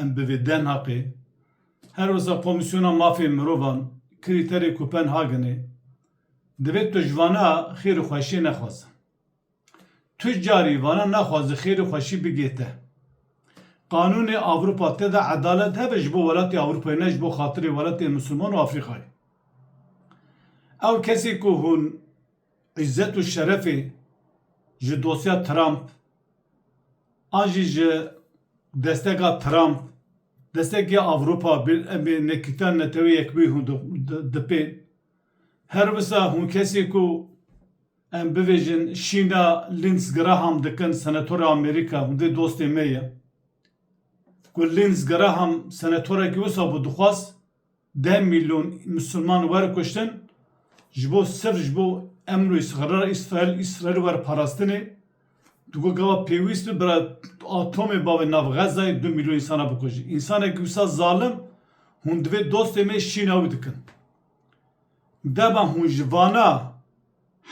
Em bi vê DNHKê her wiza Komîsyona Mafê Mirovan krîterê Kopenhagenê divê tu ji vana xêr û xweşiyê nexwazin. Tu carî vana naxwazi xêr û xweşî bigê te. Qanûnê Ewropa tê de edalet hebe ji bo welatê Ewropayê ne ji bo xatirê welatê Misilman û Afrîkayê. Ew kesê ku hûn îzzet û şerefê ji dosya Trump, An jî ji desteka Trump, destekî Ewropa em ê nekîtan Netewê Yekbûyî hûn dipên. Her wisa hûn kesê ku em bibêjin şîna Lindsey Graham dikin senatora Amerîka, hûn vê dostê me ye. Ku Lindsey Graham senatorekî wisa bû dixwaz, Deh mîlyon Misliman wer kuştin ji bo sirf ji bo emr û îsrara Îsraîl Îsraîl wer parastinê. Tu got gava pêwîst bi bira atomê bavê nav Xezayê du mîlyon însana bikujî. Însanekî wisa zalim hûn divê dostê me şîna wî dikin. Deba hûn ji vana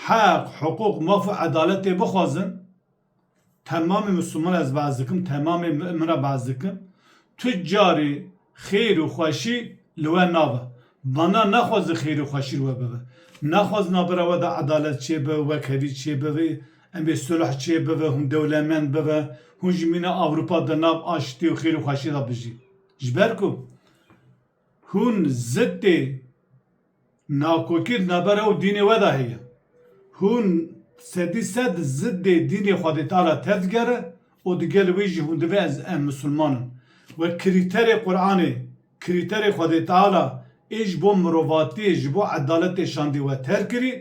heq, hiqûq, maf û edaletê bixwazin. Temamê misilman ez behs dikim, temamê mi'min re behs dikim, tu carî xêr û xweşî li we nabe. Bana naxwazê xêr û xweşî li we bibe. Naxwaz naba ra we de edalet çêbe, wekherî çêbe, em ê sulh çêbibe, hûn dewlemend bibe, hûn jî mîna Ewropa de nav aştî û xêr û xweşî de bijîn. Ji ber ku. Hûn zitê nakokî di navbera û dînê we de heye. Hûn sedî sed zitê dînê Xwedê Teala tev digere û di gel wî jî hûn divê ez em misilman in. We krîterê Quranê, krîterê Xwedê Teala ê ji bo mirovatiyê, ji bo edaletê şandî we terk kirî.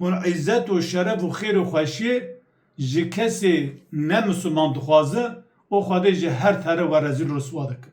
Hûn îzzet û şeref û xêr û xweşiyê ji kesê ne misilman dixwazi û Xwedê ji her tare we rezîl û riswa dikin.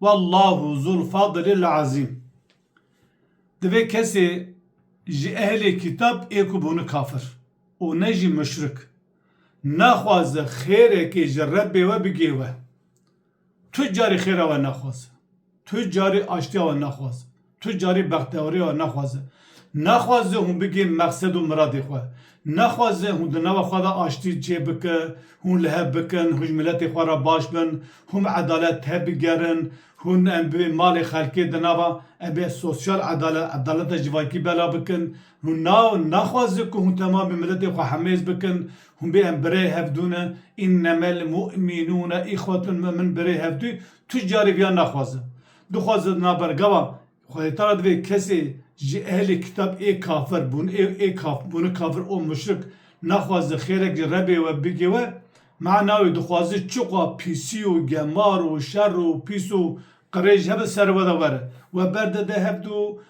Wallahu zul fadilil azîm. Divê kesê ji ehlê kîtab ê ku bûne kafir û ne jî muşrik, naxwaze xêrekê ji Rebbê we bigê we. Tu carî xêra we naxwaze. Tu carî aştiya we naxwaze. Tu carî bextewarîya nexwaze. Nexwaze hûn bigihîn mexsed û miradê xwe. Nexwaze hûn di nava xwe de aştî çêbike, hûn li hev bikin, hûn ji miletê xwe re baş bin, hûn edalet tebigerin, hûn em bi malê xelkê di nava em bi sosyal edalet, edaleta civakî bela bikin. Hûn na nexwaze ku hûn temam bi miletê xwe hemêz bikin, hûn bê em birê hevdû ne, innemelmû'minûne îxwetûn, mu'min birê hevdû, tu carî viya nexwaze. Dixwazin na bergava xwedêtara divê kesê ji ehlê kitab ê kafir bûn ê ê kaf bûn kafir û muşrik naxwazin xêrek ji Rebê we bigê we mana wê dixwazin çiqwa pîsî û gemar û şer û pîs û qirêj hebin ser we de were we berde de hebd û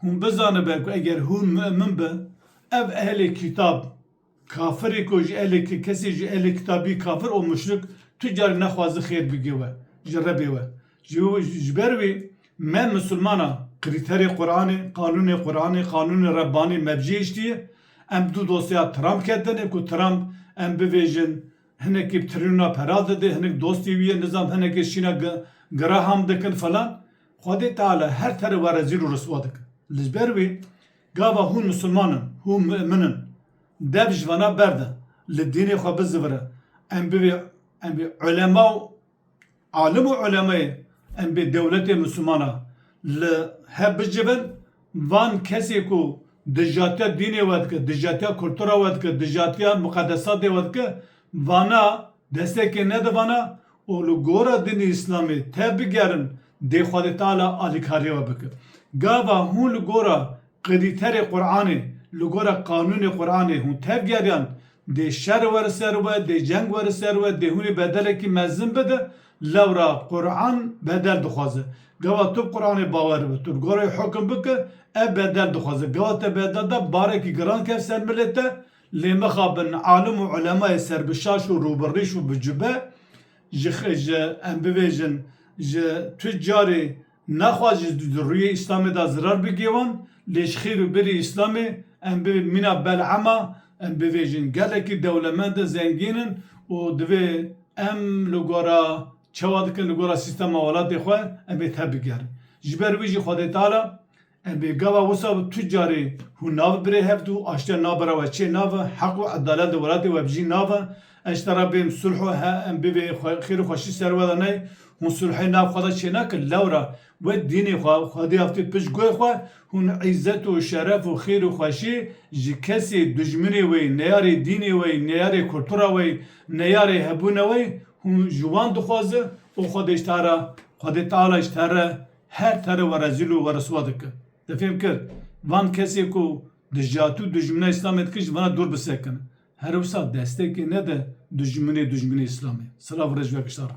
Hûn bizanibe ku eger hûn mi'min bi, ev ehlê kîtab, kafirê ku ji ehlê ki kesê ji ehlê kîtab bî kafir û muşrik tu carî nexwazi xêr bigê we ji Rebê we. Ji ji ber wî me misilmana krîterê Quranê, qanûnê Quranê, qanûnê Rebbanî me bicêhiştiye. Em du dosyeya Trump ketine ku Trump em bivêjin hinekî bi trîlyonan pera dide, hinek dostê wî ye, nizam hinekê şîna Graham dikin filan. Xwedê Teala her teri we rezîl û riswa dike. Li ber wê gava hûn misilman in, hûn mu'min in. Dev ji vana berde, li dînê xwe bizivire. Em bivê em bê ulema û alim û ulemayê, em bê dewletê misilman a. Li hev bicivin van kesê ku dijatiya dînê we dike, dijatiya kultura we dike, dijatiya miqedesatê we dike, vana destekê nede vana û li gora dinê îslamê te bigerin dê Xwedê Teala alîkariyê we bike. Gava hûn li gora qedîterê Quranê, li gora qanûnê Quranê hûn tevgeriyan, dê şer were ser we, dê ceng were ser we, dê hûnê bedelekî mezin bide, lewra Quran bedel dixwaze. Gava tu bi Quranê bawer bi, tu li gora wê hukm bike, ev bedel dixwaze. Gava te bedel da, barekî giran ket ser milê te, Lê mixabin alim û ulemayê ser bi şaş û rû bi rîş û bi cube ji ji em bibêjin ji tu carê nexwaz ji di rûyê Îslamê de zirar bigêwan lê ji xêr û birî Îslamê em bi mîna Bel'ama em bibêjin gelekî dewlemend in zengîn in û divê em li gora çawa dikin li gora sîstema welatê xwe em ê tevbigerin. Ji ber wî jî Xwedê Teala. Ebê gava wisa bi tu carê hûn navi birê hev du aştiya nabera we çê navi heq û edalet li welatê we bijî navi eşte re bêm sulh û he em bivê xêr û xweşî ser we de ney hûn sulhê nav xwe de çênakin lewra we dînê xwe xwedî avtê pişt guhê xwe hûn îzzet û şeref û xêr û xweşî ji kesê dujminê wê neyarê dînê wê neyarê kultura wê neyarê hebûna wê hûn ji wan dixwazi û xwedê ji te re xwedê teala ji te re Her tare we rezîl û we riswa dike. Te fêm kir? Van kesê ku dijatû dijmina îslamê dike ji vana dûr bisekine. Her wisa destekê nede dijminê dijminê îslamê. Silav û rej vekişta re.